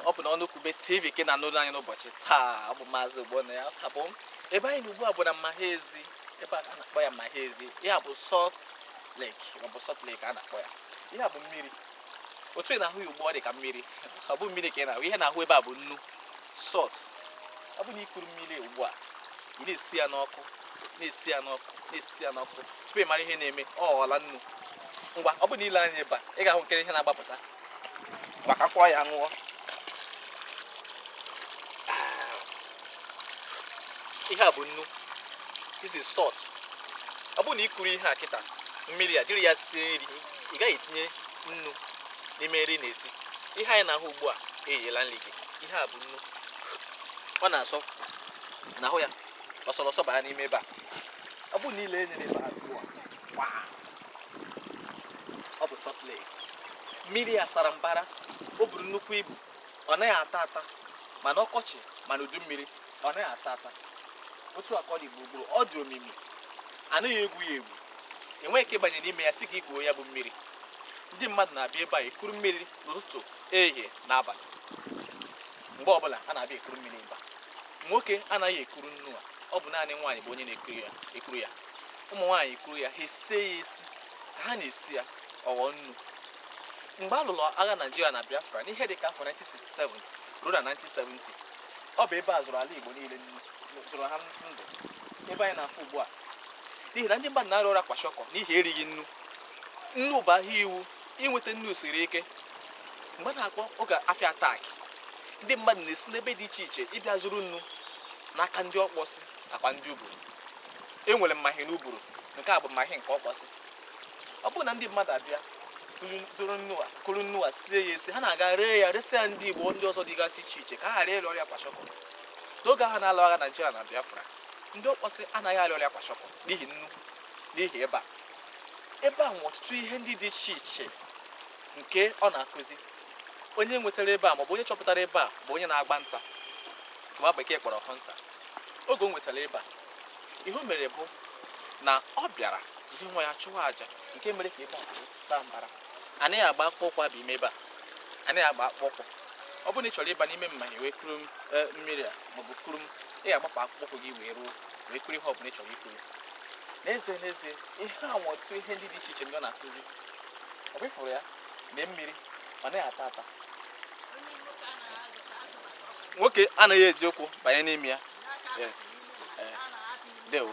ọ bụ n'ọnụkwube tv ka ị na-anụrụ anyị n'ụbọchị taa ọ bụ maazị ogbonnaya ka bụ m ebe anyị nọ ugbu a bụ na mmahi ezi ebe a na-akpọ ya mmahi ezi ya bụ salt lake ma ọ bụ salt lake a na-akpọ ya ihe a bụ mmiri otu ị na-ahụ ya ugbu a ọ dị ka mmiri ọ bụ mmiri ka ị na-ahụ ihe ị na-ahụ ebe a bụ nnu salt ọ bụ na i kuru mmiri ugbu a ị na-esi ya n'ọkụ na-esi ya n'ọkụ na-esi ya n'ọkụ tupu ị mara ihe na-eme ọ ghọọla nnu ngwa ọ bụ na i lee anya ebe a ị ga-ahụ nkere ihe na-agbapụta maka kwa ya ṅụọ ihe a bụ nnu this is salt ọ bụ na i kuru ihe a kịta mmiri a jiri ya sie nri ị gaghị etinye nnu n'ime nri ị na-esi ihe anyị na-ahụ ugbu a eyela nri gị ihe a bụ nnu ọ na-asọ ị na-ahụ ya ọ sọrọ asọ baa n'ime ebe a ọ bụ na i lee anya n'ebe a ugbu a ọ bụ Salt Lake mmiri ya sara mbara o buru nnukwu ibu ọ naghị ata ata ma n'ọkọchị ma n'udu mmiri ọ naghị ata ata otu a ka ọ dị gburugburu ọ dị omimi a naghị egwu ya egwu i nweghị ike ịbanye n'ime ya sị ka i kuo ya bụ mmiri ndị mmadụ na-abịa ebe a ekuru mmiri n'ụtụtụ ehihie na abalị mgbe ọbụla a na-abịa ekuru mmiri mba nwoke anaghị ekuru nnu a ọ bụ naanị nwaanyị bụ onye na-ekuru ya ụmụ nwaanyị kuru ya ha esie ya esi ka ha na-esi ya ọ ghọọ nnu mgbe a lụrụ agha naijiria na biafra n'ihe dị ka afọ 1967 ruo na 1970 ọ bụ ebe a zụrụ ala igbo niile nnu zụrụ ha ndụ ebe anyị na-afụ ugbu a n'ihi na ndị mmadụ na-arịa ọrịa kwashọkọ n'ihi erighị nnu nnu bụ ahịa iwu inweta nnu siri ike mgbe a na-akpọ oge afịa attack ndị mmadụ na-esi n'ebe dị iche iche ịbịa zụrụ nnu n'aka ndị ọkpọsị nakwa ndị uburu e nwere mmahi n'uburu nke a bụ mmahi nke ọkpọsị ọ bụrụ na ndị mmadụ abịa zụrụ nnu a kuru nnu a sie ya esi ha na-aga ree ya resịa ndị igbo ndị ọzọ dịgasị iche iche ka ha ghara ịrịa ọrịa kwashọkọ n'oge ahụ a na-alụ agha naijiria na biafra ndị ọkpọsị anaghị arịa ọrịa kwashọkọ n'ihi nnu n'ihi ebe a ebe a nwe ọtụtụ ihe ndị dị iche iche nke ọ na-akụzi onye nwetara ebe a maọbụ onye chọpụtara ebe a bụ onye na-agba nta nwa bekee kpọrọ hunter oge o nwetara ebe a ihe o mere bụ na ọ bịara jiri nwa ya chụwa aja nke mere ka ebe a saa mbara anaghị agba akpụkpọ ụkwụ aba ime ebe a anaghị agba akpụkpọ ụkwụ ọ bụrụ na ị chọrọ ịba n'ime mmahi a wee kuru m eh, mmiri a maọbụ kuru m ị ga-agbapụ akpụkpọ ụkwụ gị wee ruo wee kuru ihe ọ bụla ị chọrọ ikuru n'ezie n'ezie ihe a nwe ọtụtụ ihe ndị dị iche iche ndị ọ na-akụzi ọ bụ ị fụrụ ya mee mmiri ọ naghị ata ata nwoke anaghị eji ụkwụ banye n'ime ya yes eh, ndewo